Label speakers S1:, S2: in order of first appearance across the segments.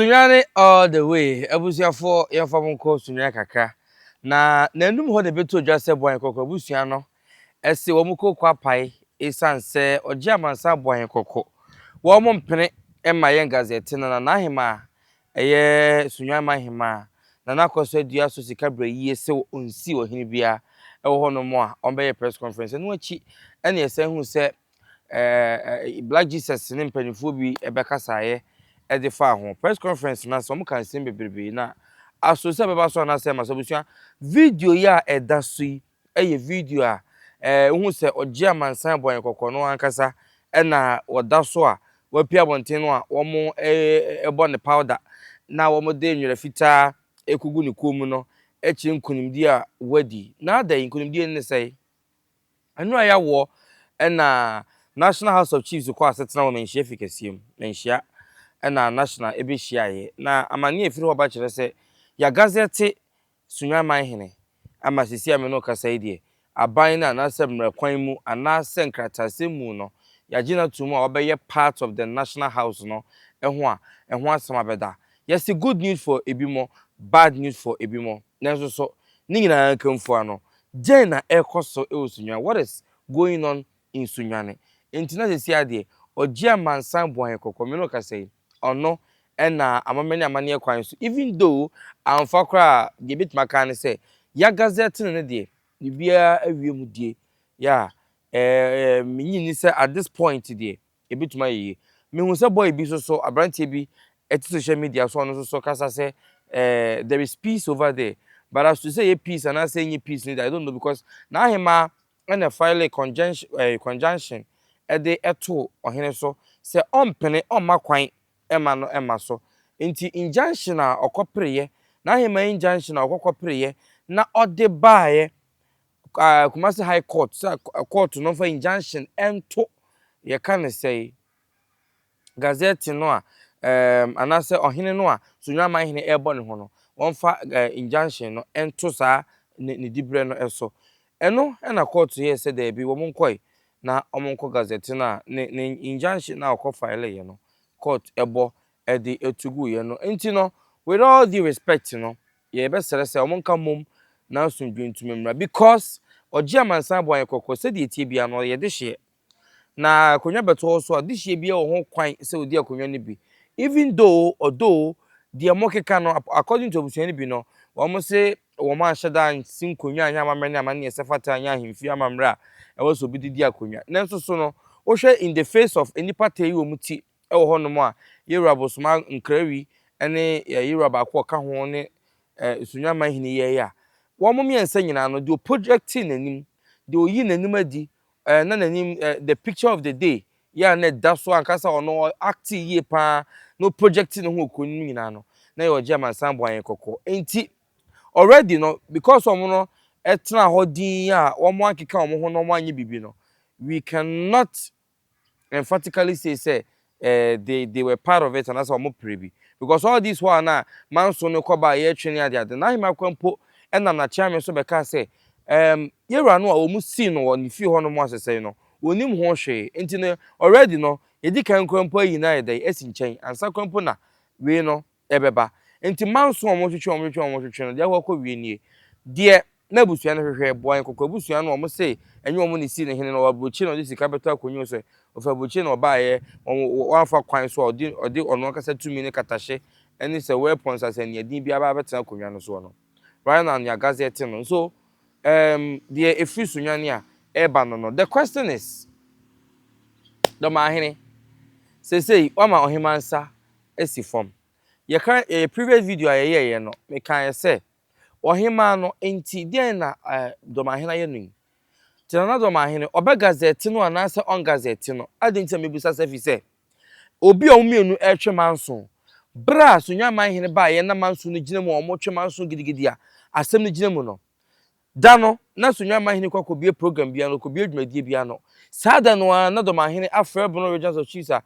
S1: Sunyani all the way abusuafoɔ yɛnfa mo nkɔ Sunyani kakra na n'anum hɔ na ɛbɛtu odwa sɛ Boahen Kɔkɔ abusua no se wɔn kɔ Kwapae esiane sɛ ɔgye Amansan Boahen Kɔkɔ wɔn mpene mma yɛn gazɛte no na n'ahemaa ɛyɛ Sunyani man hemaa Nana Akwaso adua so sika berɛ yie se ɔnsi ɔhene biara wɔ hɔnom a ɔmbɛyɛ press conference ɛno akyi na yɛsan hunu sɛ ɛɛ Black Jesus ne mpanimfoɔ bi bɛkasaeɛ de faa ho. Press conference no ase, wɔka nsɛm bebrebe na aso sɛ ɛbɛba so anaasɛ ɛma so abusua. Video yi a ɛda so yi yɛ video a ɛɛ wohu sɛ ɔgye amansan bɔ yɛn kɔkɔ no ankasa na wɔda so a wɔapue abɔnten no a wɔbɔ ne powder na wɔde nwera fitaa ɛkugu ne kɔn mu no kyerɛ nkonimdie a wadi. Na adɛn nkonimdie no ne sɛe? Ɛno a ɛyɛ awoɔ na National House of Chiefs kɔ asetena wɔ Manhyia Fi kɛseɛ mu. Manhyia na National bɛhyiaeɛ na amanneɛ a ɛfiri hɔ ba kyerɛ sɛ yɛagazɛte Sunyani Manhene ama seesei a me ne wo kasa yi deɛ aban no anaasɛ mmara kwan mu anaasɛ nkrataasɛm mu no yɛagye no atom a wabɛyɛ part of the National House no ho a ɛho asɛm abɛda. Yɛse good news for ebinom, bad news for ebinom nanso so ne nyinaa nka mfua no Dɛn na ɛrekɔ so wɔ Sunyani? What is going on in Sunyani? Enti na seesei ara deɛ, ɔgye amansan boayɛ kɔkɔ. Me ne wo kasa yi, ɔno na amamɛne amanneɛ kwan so, even though amfa koraa a, deɛ yɛbɛtumi aka ara ne sɛ, Yagazɛɛte no ne deɛ, biribiara awie mu die. Yeah, eh, eh, mennye nni sɛ at this point deɛ, Yɛbɛtumi ayɛ yei. Mehu sɛ boy bi sosɔ, abranteɛ bi te social media so a ɔno sosɔ kasa sɛ eh, there is peace over there. But as to sɛ ɛyɛ peace anaasɛ ɛnyɛ peace no deɛ, I don't know because n'ahemaa na ɛfile conjunction, eh, conjunction de too ɔhene so sɛ ɔmpene, ɔmma kwan mma no mma so. Nti injunction a ɔkɔpereeɛ, n'ahemaa injunction a ɔkɔkɔpereeɛ na ɔde baeɛ Ɛɛ Kumasi High Court sɛ kɔɔto no mfa injunction nto yɛka no sɛe Gazette no a ɛɛm anaasɛ ɔhene no a Sunyani Aman hene ɛrebɔ ne ho no, wɔmfa ɛɛ injunction no nto saa ne ne diberɛ no so. Ɛno na kɔɔto yɛɛ sɛ daabi, wɔn nkɔe na wɔn nkɔ Gazette no a ne ne injunction no a ɔkɔ fileeɛ no, court bɔ de to guiɛ no. Nti no, with all due respect no, Yɛbɛsrɛ sɛ wɔn nka mmom na asomdwoe ntumi mmra because ɔgye amansan boa yɛn kɔkɔ sɛdeɛ ɛteɛ biara no ɔyɛ dehyeɛ. Na akonnwa bɛtɔ wo so a dehyeɛ biara wɔ ho kwan sɛ ɔdi akonnwa no bi even though although deɛ mokeka no according to abusua no bi no wɔn se wɔn anhyɛ da ansi nkonnwa anyɛ amammerɛ ne amanneɛ sɛ fata anyɛ ahemfie amammerɛ a ɛwɔ sɛ obi de di akonnwa nanso so no wohwɛ in the face of nnipa taa yi wɔn ti wɔ hɔnom a Yeroboam bosoma nkrawi ne Yeroboam baako a ɔka ho ne Nsunoa man hene yɛe a, wɔn mmiɛnsa nyinaa no, deɛ ɔprojectee n'anim, deɛ ɔyii n'anim adi, eh, na n'anim, eh, the picture of the day, yɛ a na ɛda so ankasa ɔno acte yie paa na ɔprojectee ne ho wɔ kuro no mu nyinaa no, na yɛ ɔgye amansan bɔ ayɛ kɔkɔɔ. Enti, already no, because wɔn no ɛtena hɔ din a wɔn ankeka wɔn ho na wɔn anyɛ biribi no, we cannot emphatically say sɛ eh, they, they were part of it anaasɛ wɔn pere bi. Because all this while na manso no kɔ baa yɛretwe ne ade ade. N'ahemmakwa mpo nam n'akyeame so bɛkaa sɛ, um, yɛwura no a wɔn sii no wɔ ne fie hɔ no mu asesɛe no, wɔnim ho hwee. Nti no, already no, yɛdi kan kura mpo ayi no ayɛ dɛn asi nkyɛn, ansa kura mpo na wei no, ɛbɛba. Enti manso a wɔtwetwe a wɔtwetwe a wɔtwetwe no, deɛ ɛwɔ hɔ kɔwie nie. Deɛ na abusua no hwehwɛ, boa yɛn kɔkɔ abusua no a wɔse ɛnyɛ wɔn na ɛsii no hene no, ɔwɔ aburokyire na ɔde sika bɛtɔ akonnwa so ɛ, ɔfiri aburokyire na ɔbaeɛ, wɔn wɔamfa kwan so a ɔde ɔde ɔno ankasa tumi ne katahye ne sɛ weapons asɛnniadin biara aba abɛtena akonnwa no soɔ no. Rhineland ya Gazette no nso ɛɛm deɛ ɛfiri Sunyani a ɛreba no no. The question is, Dɔmahene, seesei woama ɔheman nsa asi fam. Yɛka yɛn previous video a yɛyɛeɛ no, mekaeɛ sɛ, Ɔhemmaa no, enti deɛn na Dɔmahene ayɛ no yi? Te Nana Dɔmahene, ɔbɛgazɛte no anaasɛ ɔngazɛte no? Adɛn nti na mebisa saa? Ɛfiri sɛ, obi a wɔn mmienu retwe manso. Berɛ a Sunyani Manhene baeɛ na manso no gyina mu a wɔretwe manso gidigidi a asɛm no gyina mu no, da no, na Sunyani Manhene kɔ akɔbue program biara no, ɔkɔbue dwumadie biara no, saa da no ara na Dɔmahene afrɛ Bono Regents of Chiefs a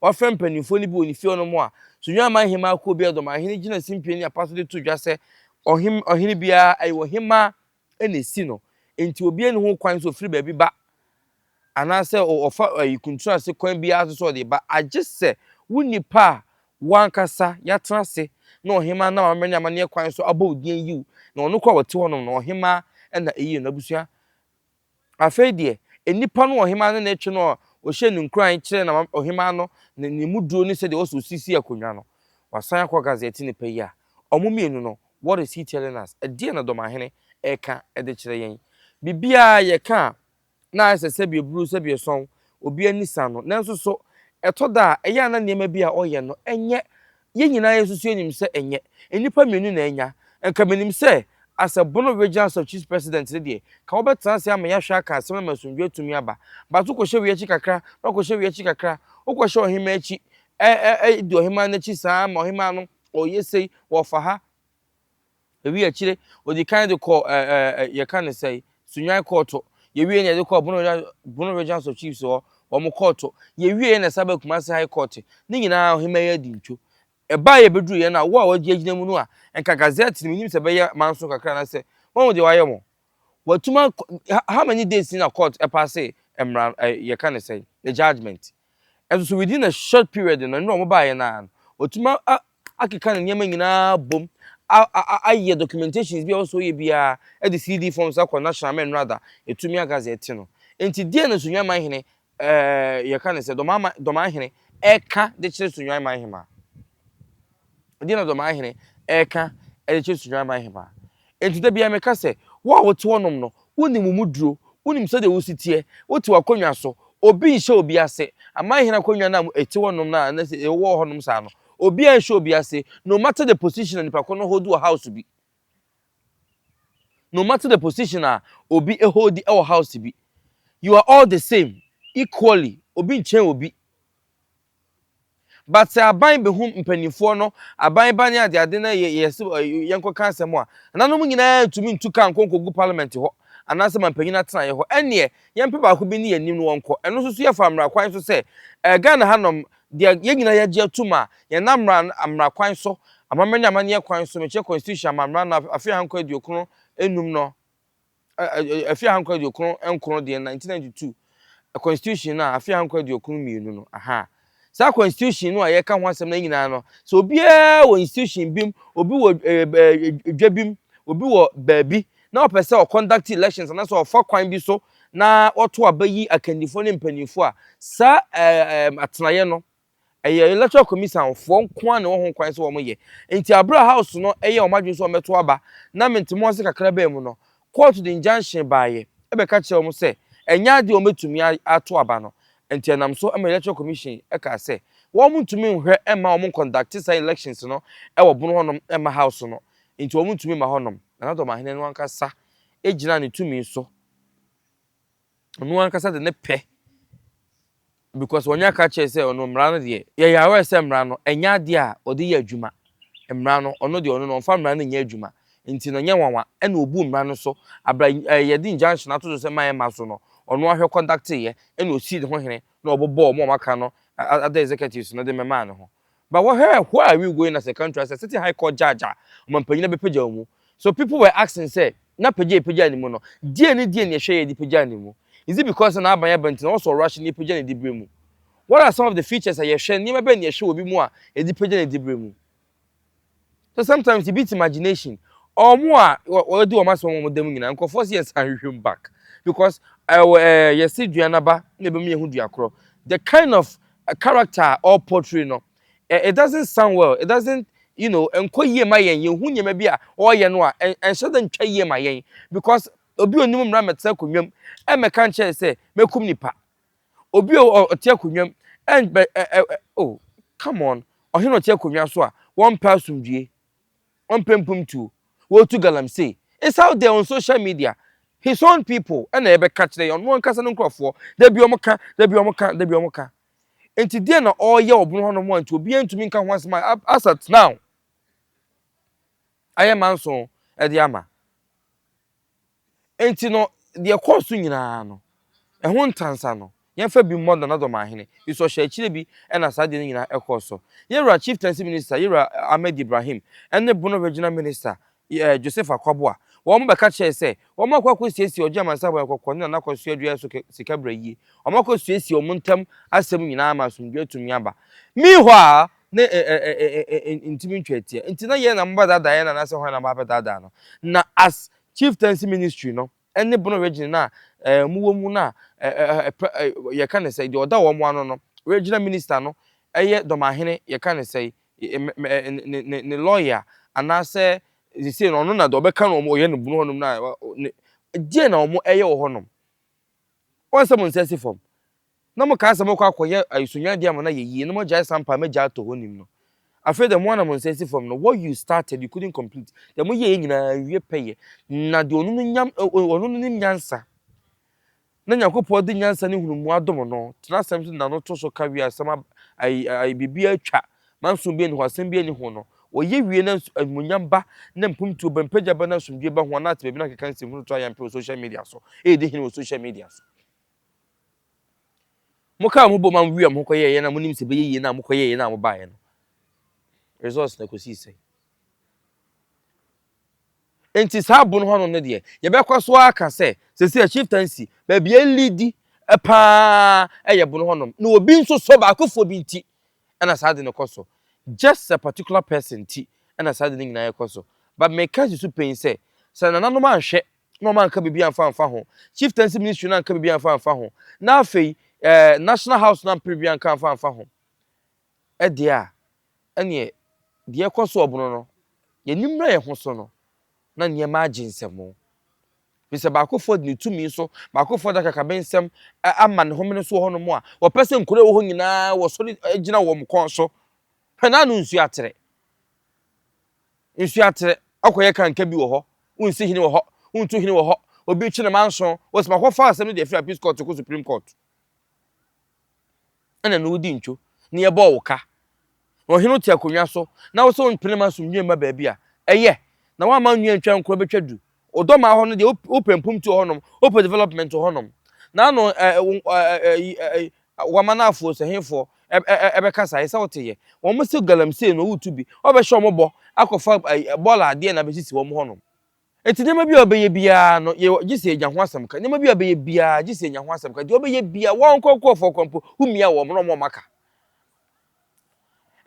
S1: Wɔafrɛ mpanimfoɔ no bi wɔ ne fie hɔnom a, Sunyani Aman Hemmaa Kuo Biara de ɔmanhene gyina simpie ne apa so de to dwa sɛ ɔhem ɔhene biara ɛyɛ ɔhemmaa na ɛsi no, enti obiara nni ho kwan sɛ ɔfiri baabi ba anaasɛ ɔfa ayi kuntunu ase kwan biara so sɛ ɔde ba, agye sɛ wo nnipa a wo ankasa yɛatena ase na ɔhemmaa nam amammerɛ ne amanneɛ kwan so abɔ wo din ayi wo, na ɔno koro a ɔte hɔnom no, ɔhemmaa na ɛyi no, abusua. Afei deɛ, nnipa no ɔhemmaa no na ɛtwe no a ɔhyɛ no nkuran kyerɛ na ɔhemmaa no ne ne mu duro ne sɛdeɛ ɔsɛ ɔsisi akonnwa no. Wasan akɔ gazɛte no pɛ yi a, wɔn mmienu no, what is he telling us? Ɛdeɛn na Dɔmahene reka de kyerɛ yɛn? Biribiara a yɛka a na ayɛ sɛ sɛbiɛ bruu sɛbiɛ sɔn obi ani sa no. Nanso so ɛtɔ da a ɛyɛ a na nneɛma bi a ɔyɛ no nyɛ? Yɛn nyinaa yɛn nso so yenim sɛ ɛnyɛ. Nnipa mmienu na anya. Anka minim sɛ asɛ Bono Regional South Chiefs President no deɛ, anka wobɛtena ase ama yɛahwɛ aka asɛm no ma asomdwoe atumi aba. But wokɔhyɛ wei akyi kakra, na wakɔhyɛ wei akyi kakra. Wokɔhyɛ ɔhemmaa akyi, ɛ, ɛ, ɛ, di ɔhemmaa no akyi saa ma ɔhemmaa no ɔyɛ sei, ɔfa ha. Yɛwieɛ akyire ɔdi kan de kɔɔ ɛ ɛ ɛ yɛka ne sɛn Sunyani kɔɔto. Yɛwieɛ na yɛde kɔɔ Bono Region Bono Regions of Chiefs hɔ wɔn kɔɔto. Yɛwieɛ na ɛsan baa Kumasi High Court. Ne nyinaa ɔhemmaa yi adi ntwo. Ɛbaeɛ bɛduruiɛ no a wo a woagyinagyina mu no a nka Gazette no mennim sɛ ɛbɛyɛ manso kakra anaasɛ woahu deɛ wɔayɛ mo? Watumi akɔ how many days ni na court ɛpaase mmara ɛɛ yɛka ne sɛn the judgement ɛnso so within a short period no ɛno na wɔn baayɛ no ara no watumi a akeka ne nneɛma nyinaa bom a a ayɛ documentations bi a ɔsɔ yɛ biara ɛde CD forms akɔ national mɛnrada etumi agaze ɛte no nti deɛ na Sunyani Manhene Ɛɛ, yɛka no sɛ Dɔmama, Dɔmahene, ɛka de kyerɛ Sunyuan man hemaa. Ɛdeɛ na Dɔmahene ɛka de kyerɛ Sunyuan man hemaa. Enti da biara meka sɛ, wo a wote hɔnom no, wonim wo mu duro, wonim sɛdeɛ wo si teɛ, wote w'akonnwa so, obi nhyɛ obi ase, amanhene akonnwa no a ɛte hɔnom no a na sɛ ɛwɔ hɔnom saa no, obiara nhyɛ obi ase, no matter the position a nipa ko no hold wɔ house bi. No matter the position a obi holdi wɔ house bi, you are all the same, equally, obi nkyɛn obi. But sɛ aban behu mpanimfoɔ no, aban ba ne adeade na yɛ yɛ sɛ yɛnkɔka asɛm a, nanom nyinaa ntumi ntu ka nkɔ nkɔgu parliament hɔ anaasɛ ma mpanyin atenaeɛ hɔ. Ɛnneɛ, yɛmpɛ baako bi ne yɛn anim na wɔnkɔ. Ɛno nso so yɛfa mmara kwan so sɛ, ɛɛ Ghana hanom, Deɛ yɛn nyinaa yɛagye atum a yɛnam mmara no mmara kwan so, amammerɛ ne amanneɛ kwan so, mekyerɛ Constitution amammara no afe ahankron aduokron nnum no, afe ahankron aduokron nkron deɛ 1992 Constitution no a afe ahankron aduokron mmienu no, ahaa, saa Constitution no a yɛka ho asɛm no nyinaa no, sɛ obiara wɔ institution bi mu, obi wɔ dwa bi mu, obi wɔ baabi, na ɔpɛ sɛ ɔconduct elections anaasɛ ɔfa kwan bi so na ɔto aba yi akandifoɔ ne mpanimfoɔ a, saa ɛɛm atenaeɛ no, ɛyɛ electoral commission foɔ nko ara na ɛwɔ ho kwan sɛ wɔn yɛ. Nti abere a house no ɛyɛ wɔn adwene sɛ wɔn bɛto aba na mente mu ase kakra bɛɛ mu no, court de injunction baeɛ ɛbɛka kyerɛɛ wɔn sɛ ɛnyɛ adeɛ a wɔn bɛtumi ato aba no. Nti ɛnam so ma electoral commission ɛkaa sɛ wɔn ntumi nhwɛ mma wɔn nconduct saa elections no ɛwɔ bono hɔnom mma house no Enti wɔntumi mma hɔnom. Na na Dɔmahene no ankasa gyina ne tumi so. Ɔno ankasa de ne pɛ because wɔnyɛ aka kyerɛ sɛ ɔno mmara no deɛ yɛyɛ aware sɛ mmara no ɛnyɛ adeɛ a ɔde yɛ adwuma mmara no ɔno deɛ ɔno no ɔmfa mmara no nyɛ adwuma nti no nyɛ nwanwa ɛna ɔbu mmara no so abra eh, yɛde injunction ato so sɛ ma ɛma so no ɔno ahwɛ conducteyɛ ɛna ɔsii ne ho hene na ɔbɔbɔɔ ɔmo a wɔaka no other executives no de mɛmaa ne ho But wɔhwɛ a who are we going as a country as a sitting high court judge a ɔmampanyin abɛpagya wo mu? So people were asking sɛ na pagya a yɛpagyaa ne mu no deɛn ne deɛn na ɛhwɛ a yɛde pagyaa ne mu? Is it because sɛ n'aban aba nti na ɔsɔ ɔwra hye na yɛpagya ne diberɛ mu? What are some of the features a yɛhwɛ, nneɛma bɛn na yɛhwɛ wɔ obi mu a yɛde pagya ne diberɛ mu? So sometimes you beat imagination ɔmo a wɔdi wɔn asɛm wɔn dɛm nyinaa nkorɔfoɔ sɛ yɛsan hwehwɛ mu back because ɛwɔ ɛɛ yɛsi dua n'aba na ebɛmu yɛhu dua korɔ the kind of character a ɔɔ portray no ɛ it doesn't sound well it doesn't you know ɛnkɔ yie ma yɛn yɛhu nneɛma bi a ɔɔyɛ no a ɛ ɛnhyɛ da ntwa yie ma yɛn because obi onim mmra mɛtena akonnwa mu ɛmɛka nkyerɛ sɛ mɛkum nipa Obi a ɔte akonnwa mu ɛnbɛ ɛ ɛ oh come on ɔhene ɔte akonnwa so a wɔmpɛ asomdwie wɔmpɛ mpomtuo wɔtu galamsey it's out there on social media his own people ɛna ɛbɛka kyerɛ yɛ ɔno ankasa no nkurɔfoɔ dabi wɔn ka dabi wɔn ka dabi wɔn ka nti deɛ na ɔreyɛ ɔbono hɔ nom a nti obiara ntumi nka ho asɛm a as at now ayɛ manson ɛde ama. Enti no, deɛ ɛkɔɔ so nyinaa no, ɛho ntansa no, yɛmfa bi mmɔ Nana Dɔmahene, nso ɔhyɛɛ akyire bi na saa deɛ no nyinaa kɔɔ so. Yɛwura Chieftaincy Minister, Yɛwura Ahmed Ibrahim, ne Bono Regional Minister, Yɛ, Joseph Akwaboah, wɔn bɛka kyerɛɛ sɛ, wɔn akɔ akɔsiesie Ɔgye Amansan Boayɛ Kɔkɔɔ ne Nana Akosua Aduaeɛ so sika berɛ yie. Wɔn akɔsiesie wɔn ntam asɛm nyinaa ama asomdwoeɛ atumi aba. Meanwhile, na ntumi ntwa atia. Enti na yɛn na mobɛdaadaa yɛn anaasɛ hwan na moabɛdaadaa no? Na as Chieftaincy Ministry no ne Bono Region no a mowɔ mu no a yɛka no sɛi, deɛ ɔda wɔn ano no, Regional Minister no yɛ Dɔmahene, yɛka no sɛi, ne lawyer anaasɛ sesei no ɔno na deɛ ɔbɛka no wɔn ɔyɛ no Bono hɔnom no a, deɛn na wɔyɛ wɔ hɔnom? Wɔn sɛ mo nsa si fam, na mokaa sɛ mokɔ akɔyɛ asunyade ama no ayɛ yie, na moagyae sampa a m'agya atɔ hɔ nim no. Afei deɛ mo ara na mo nsa si fam no, what you started, you couldn't complete. Deɛ moyɛeɛ nyinaa, anwie pɛyɛ. Na deɛ ɔno no nya, ɔno no nim nyansa, na Nyankopɔn de nyansa ne nhunumu adom no, tena asɛm so de n'ano to so ka wie a, asɛm ab, ai, ai, biribiara atwa. Nanso obi nni hɔ a asɛm biara nni ho no, wɔyɛ wie na nso animuonyam ba na mpomtuo ba, mpagya ba na asomdwoe ba ho a na ate baabi na nkeka nsɛmhunu to ayampe wɔ social media so, ɛredi hene wɔ social media so. Mokaa mo bom a mowiaa mo ho kɔyɛeɛ na monim sɛ ɛbɛyɛ yie no a mokɔyɛeɛ no a mobaeɛ no, results na ɛkɔsii sɛn? Enti saa abo no hɔ no no deɛ, yɛbɛkɔ so aka sɛ sɛsi a chieftaincy baabi a ɛlidi paa ɛyɛ bo no hɔnom na obi nso so baakofoɔ bi nti ɛna saa ade no kɔ so. Just a particular person nti ɛna saa ade no nyinaa ɛkɔ so. But meka asi so pɛn sɛ, sɛ nananom anhwɛ na wɔn anka biribi amfa amfa ho, Chieftaincy Ministry no anka biribi amfa amfa ho, na afei eh, National House no ampere biribi anka amfa amfa ho ɛdeɛ a, ɛneɛ deɛ ɛkɔ so ɔbono no, yɛnim na yɛn ho so no, na nneɛma agye nsɛmmo. Ɛfiri sɛ baakofoɔ de ne tumi so, baakofoɔ de akakabensɛm ama ne homene so wɔ hɔnom a, wɔpɛ sɛ nkuro a ɛwɔ hɔ nyinaa wɔsɔre gyina wɔn kɔn so. Hwɛ na ano nsuo atere. Nsuo atere, ɔkɔyɛ kanka bi wɔ hɔ, wonsi hene wɔ hɔ, wontu hene wɔ hɔ, obi twe ne manso, wɔsi ma kɔfa asɛm no de afiri appeals court kɔ supreme court. ɛna na wodi ntwo na yɛbɔɔ wo ka, na ɔhene no te akonnwa so, na wo sɛ wompene ma asomdwoe mma baabi a ɛyɛ, na woamma wo nnua ntwa nkuro bɛtwa du. Wo dɔmmaa hɔ no deɛ, wopɛ mpomtu wɔ hɔnom, wopɛ development wɔ hɔnom, na ano wama no afuo sɛ hefoɔ ɛbɛka saa, ɛsɛ wote yɛ. Wɔn se galamsey no woretu bi, wobɛhyɛ wɔn bɔ akɔfa bɔɔla adeɛ na abɛsisi wɔn hɔnom. Enti nneɛma biara a ɔbɛyɛ biara no, yɛ gye sɛ yɛnya ho asɛm ka. Nneɛma biara a ɔbɛyɛ biara, gye sɛ yɛnya ho asɛm ka. Deɛ ɔbɛyɛ biara, wɔn nkorɔkorɔfoɔ koraa mpo, wommia wɔn na wɔmma ka.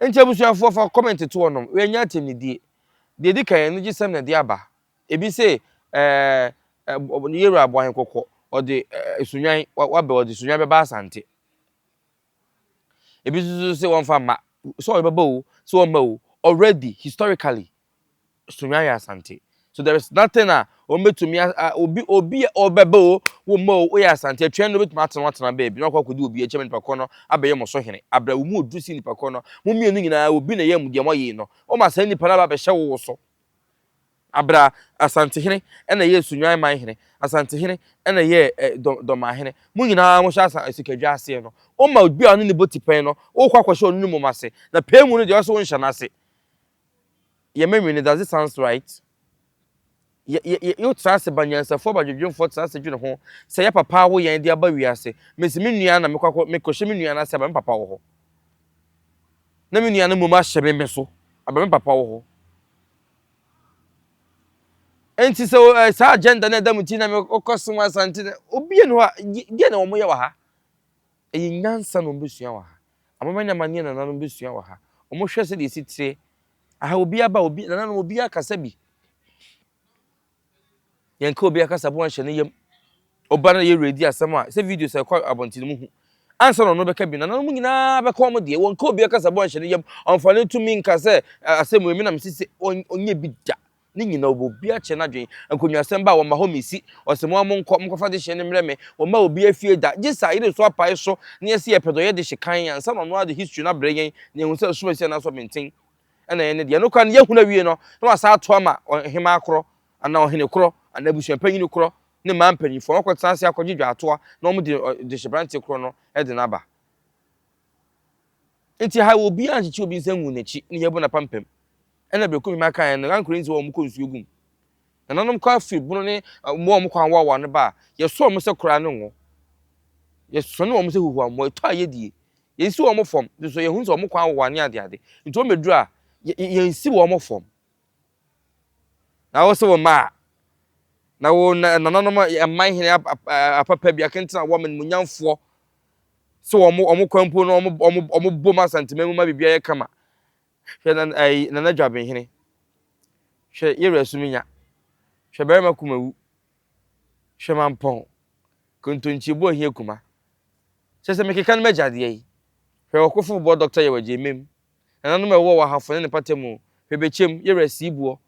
S1: Enti abusuafoɔ, fa comment to wɔnom, yɛnnyɛ atɛmnidie. Deɛ ɛdi kan, anigyesɛm na ɛde aba. Ebi se, ɛɛ, ɛ, ne yɛwura abɔ ahe kɔkɔ, ɔde, ɛ, sunwan, wa, wabɛ, ɔde sunwan bɛba Asante. Ebi nso so se wɔmfa mma. Sɛ ɔbɛba o, sɛ ɔmma o, already historically Sunyani yɛ Asante. So there is nothing a wɔbɛtumi a obi obi a ɔbɛba o, wɔmma o, woyɛ Asante. Atwɛn no bɛtumi atena atena baabi na ɔkɔ akɔdi obi akyɛm nipa koro no abɛyɛ mo so hene. Abira wo mu oduru si nipa koro no, mo mmienu nyinaa obi na ɛyɛ mo deɛ moyee no. Wɔma saa nipa no aba abɛhyɛ wo wo so. Aber a Asantehene na yɛɛ Sunyani man hene, Asantehene na yɛɛ Dormaa hene, mo nyina mo hyɛ asa sikadwa aseɛ no, wo ma obi a ɔne ne bɔ tipɛn no, wo kɔ akɔhyɛ ɔno ne mom ase, na pɛɛ mu no deɛ ɔse wo nhyɛ no ase. Yɛ ma nwene, does it sounds right? Yɛ, yɛ, yɛ, yo tra ase ba nyansafoɔ ba dwedwenfoɔ tra ase dwene ho sɛ yɛ papa awo yɛn de aba wiase, me se me nua na me kɔ akɔ, me kɔ hyɛ me nua no ase aba me papa wɔ hɔ, na me nua no mom ahyɛ me, me so aba me papa wɔ hɔ. Enti sɛ eh, saa agenda no ɛda mu ti na mekɔ som asante no obi ni hɔ a deɛ na wɔyɛ wɔ ha ɛyɛ nyansa na wɔbɛsua wɔ ha amama ne amanneɛ na nananom bɛsua wɔ ha wɔhwɛ sɛdeɛ ɛsi teɛ aha obi aba obi nananom obi akasa bi Yɛnka obi akasabu anhyɛ ne yam. Ɔba na yɛn werɛ di asɛm a, sɛ videos a ɛkɔ abɔnten mu hu. Ansa na ɔno rebɛka bi no, nananom nyinaa bɛka wɔn deɛ. Wɔnka obi akasabu anhyɛ ne yam. Ɔmfa ne tumi nka sɛ asɛm wei me na mese se ɔnyɛ bi da. Ne nyinaa ɔbɔ obi akyɛ n'adwene. Nkonnwasɛm ba a, wɔmma hɔ mmɛsi. Ɔse mo ara monkɔ, monkɔfa dehyeɛ no mmrɛ me. Wɔmma obi afie da. Gye sɛ ayere nso apae so na yɛse yɛpɛ dɛ ɔyɛ dehye kann ansa na ɔno ara de history no abrɛ yɛn na yɛahu sɛ ɔsom asi anaasɛ ɔbenten. ɛna ɛyɛ ne deɛ. Ɛno koraa no, yɛahunu awie no, na wasan ato ama ɔhemaa korɔ, anaa ɔhene korɔ, anaa abusuapanyin korɔ ne mmaa mpanimfoɔ. Wɔakɔtena ase akɔgye dwaatoa na wɔde dehyeberanteɛ korɔ no de no aba. Nti ha obiara nkyekye obi nsa ngu n'akyi ne yɛabu no apampam. Ɛna berɛ Kumema kaeɛ no, Ankorɛ nsi hɔ a wɔkɔ nsuo gu mu. Nananom kɔ afiri bono ne mmoa a wɔn kwan wɔ awa no ba a, yɛsɔ wɔn sɛ koraa ne ngo. Yɛsɔne wɔn sɛ huhuammɔ. Ɛtɔ a yɛdie. Yɛnsi wɔn fam. Nti nso yɛhunu sɛ wɔn kwan wɔ wane adeade. Nti wɔn bɛduru a, yɛnsi wɔn fam. Na wo se wo mma a, na wo nananom mman hene apapa bi akentena wɔn animuonyamfoɔ sɛ wɔn kwan mpo no wɔn bom asanteman mu ma biribiara yɛ kama. Hwɛ nan ayi Nana Dwabenhene Hwɛ Yewura Suminya Hwɛ Barima Kumawu Hwɛ Mampɔn Kontonkyi Obu Ohia Kuma Kyerɛ sɛ mekeka no m'agya deɛ yi Hwɛ Ɔkofo Bobɔ Dɔkta Yaw Agyemem Nananom a ɛwowɔ wɔ Ahafo ne ne mpatamu Hwɛ Bekyem Yewura Siibuɔ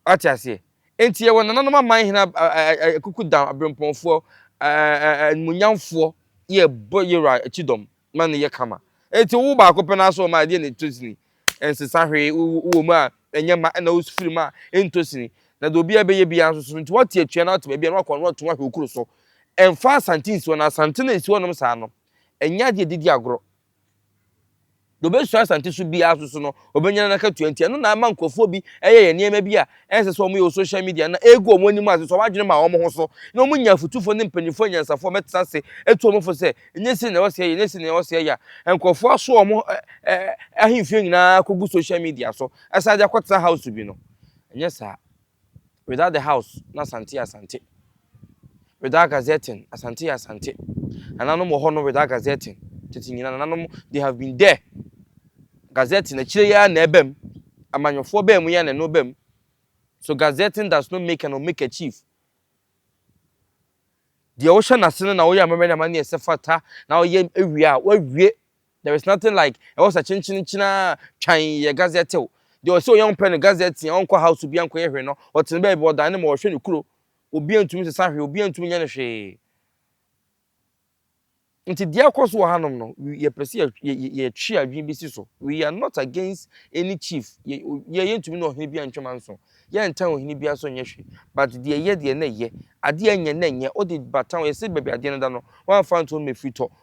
S1: Wate aseɛ? Enti yɛwɔ nananom aman hene akukudan aberempɔnfoɔ animuonyamfoɔ yɛbɔ Yeroa kyidɔm ma no yɛ kama. Enti wowo baako pɛ no ara so ɔma adeɛ na ɛtɔ sini. Ɛnsesa hwee, wowɔ mu a ɛnyɛ ma ɛna wofiri mu a ɛntɔ sini. Na deɛ obiara bɛyɛ biara nso so nti woate atua na woate baabi a na wakɔ no woato ahwɛ wo kuro so. Ɛmfa asante nsi hɔ na asante no a ɛsi hɔnom saa no ɛnyɛ adeɛ a yɛde di agorɔ. Deɛ ɔbɛsua Asante so biara nso so no, ɔbɛnya n'akatua nti ɛno na ama nkurɔfoɔ bi yɛyɛ nneɛma bi a ɛnsɛ sɛ wɔyɛ wɔ social media na ɛgu wɔn anim ase sɛ wɔn adwene ma wɔn ho so na wɔnya afotufoɔ ne mpanimfoɔ anyansafoɔ a wɔbɛtena ase atu wɔn fo sɛ ɛnyɛ sei na ɛwɔ sɛ yɛyɛ ɛnyɛ sei na ɛwɔ sɛ yɛyɛ a nkurɔfoɔ aso wɔn ahemfie nyinaa kɔgu social media so ɛsan de akɔtena house bi no ɛnyɛ saa. Without the house no Asante yɛ Asante Without gazetting Asante yɛ Asante Nananom wɔ hɔ no without gazetting Tete nyina nananom they have been there Gazetting akyire yi ara na ɛba mu Amanyɔfoɔ baa mu yi ara na ɛno ba mu So gazetting does not make an omeka chief Deɛ wohyɛ n'ase no na woyɛ amammerɛ ne amanneɛ sɛ fata na woyɛ awie a woawie There is nothing like ɛhɔ sa kyenkyenenkyen aa twan yɛ gazɛtew. Deɛ ɔse ɔyɛ ɔmpɛ no gazɛte a ɔnkɔ house obia nkɔyɛ hwee no ɔtene baabi ɔdan ne ma ɔhwɛ ne kuro obia ntumi sesa hwee obia ntumi nyɛ no hwee. Nti deɛ ɛkɔ so wɔ hanom no we yɛpɛ sɛ yɛ yɛ yɛtwe adwene bi si so we are not against any chief yɛ yɛ yɛntumi ne ɔhene bia ntwe manso yɛntan ɔhene bia so nyɛ hwee but deɛ ɛyɛ deɛ na ɛyɛ adeɛ a ɛnyɛ na ɛnyɛ wode bata ho yɛse baabi adeɛ no da no woamfa nto no ma ɛfiri tɔ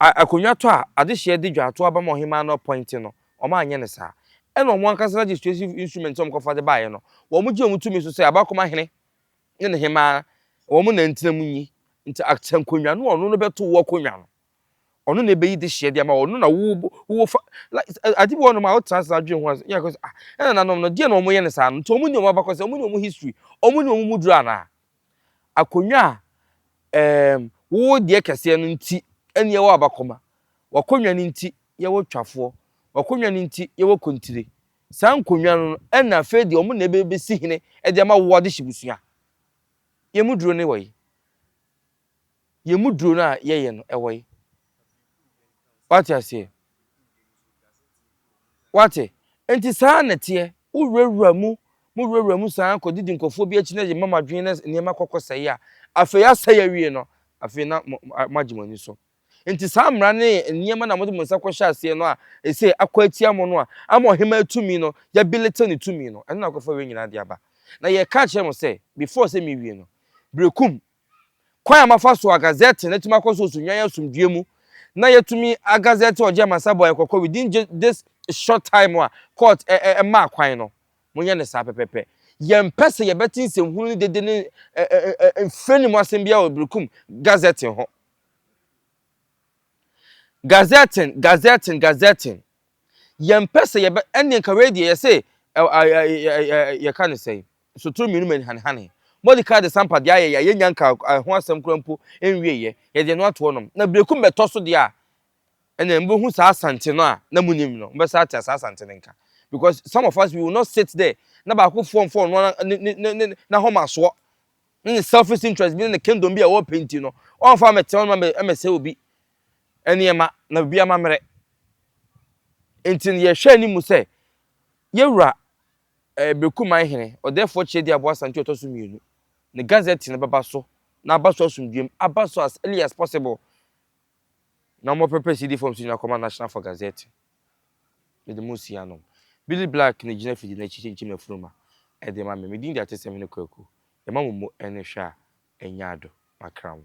S1: A Akonnwa tɔ a, adehyeɛ di dwa to aba ma ɔhemaa no pɔn nti no, wɔanyɛ no saa. Ɛna wɔn ankasa legislative instruments a wɔkɔfa de baeɛ no, wɔgye wɔn tumi so sɛ Abaakoma Hene ne ne hemaa, wɔn na ɛntena mu nyi. Nti Acta nkonnwa no, ɔno na ɔbɛto wo akonnwa no. Ɔno na ɛbɛyi dehyeɛ de ama wo, ɔno na wo, wo fa, like, ade bi wɔ hɔnom a wotena ase na dwene ho a, yɛ kɔ sɛ, ah, ɛnananom no, deɛ na wɔyɛ no saa no, nti wɔn ni wɔn abakɔsɛm, wɔn ni wɔn history, wɔn ni wɔn mu duro anaa? Akonnwa a ɛɛm wowɔ deɛ kɛseɛ no nti ɛne yɛwɔ abakɔma. W'akonnwa no nti yɛwɔ twafoɔ. W'akonnwa no nti yɛwɔ kontire. Saa nkonnwa no ɛna afei deɛ wɔn na ɛbɛsi hene de ama wo adehye busua. Yɛn mu duro ne wɔ yi. yɛn mu duro no a yɛyɛ no ɛwɔ yi wate aseɛ wate nti saa na teɛ wowurawura mu mo wurawura mu saa kɔdidi nkɔfoɔ bi akyi na yɛ mama adwene na nneɛma kɔkɔ sɛe a afei asɛe awie no afei na moagye mo ani so nti saa mmara ne nneɛma na mode mo nsa kɔhyɛ aseɛ no a ɛsɛ akɔ atia mo no a ama ɔhema atumi no yɛbelete ne tumi no ɛno na akɔfa wei nyinaa de aba na yɛka kyerɛ mo sɛ before sɛ mewie no berekum kwan a mafa so agazɛte na atumi akɔ so so nnwan asomdwoe mu, na yɛatumi agazɛte ɔgye amansabɔ a ɛkɔkɔ within this short time a court maa kwan no. Monyɛ no saa pɛpɛpɛ. Yɛmpɛ sɛ yɛbɛte nsɛmhunu ne dede ne mfrani mu asɛm biara wɔ Berekum Gazetting ho. Gazetting, Gazetting, Gazetting. Yɛmpɛ sɛ yɛbɛ ɛnneɛ nka wei deɛ yɛse ɛ ɛ ɛ ɛ ɛ yɛka ne sɛn sotoro mmienu ma nihanehane. Mordecai de sampa deɛ ayɛ yɛ a yɛnnya nkaa ɛho asɛm koraa mpo nwieɛ, yɛde ɛno ato hɔnom. Na birekum bɛtɔ so deɛ a, ɛnneɛ mobɛhu saa Asante no a na monim no, mobɛsan ate saa Asante no nka. Because some of us we will not sit there na baakofoɔ mfa ɔno ara ne ne ne ne n'ahomasoɔ ne ne selfish interest bi ne ne kingdom bi a ɔrepɛ nti no, ɔmfa mmɛtena hɔnom mmɛsɛe obi nneɛma na biribi amammerɛ. Enti no yɛhwɛ anim sɛ Yewura eh, Beku Man Hene, Ɔdɛɛfoɔ Kyerɛdi Aboa Asante Ɔtɔ So Mmienu, ne Gazette no bɛba so na aba so asomdwoem, aba so as early as possible na wɔpɛpɛ CD fam so nyina kɔma National for Gazette. Mede mo nsi anom. Billy Black na gyina fidi no akyi kyinkyim afunuma ɛde ma me. Me din de Ateseɛm Hene Kwaku. Yɛma mo mo ɛne hwɛ a ɛnya ado. Makra mo.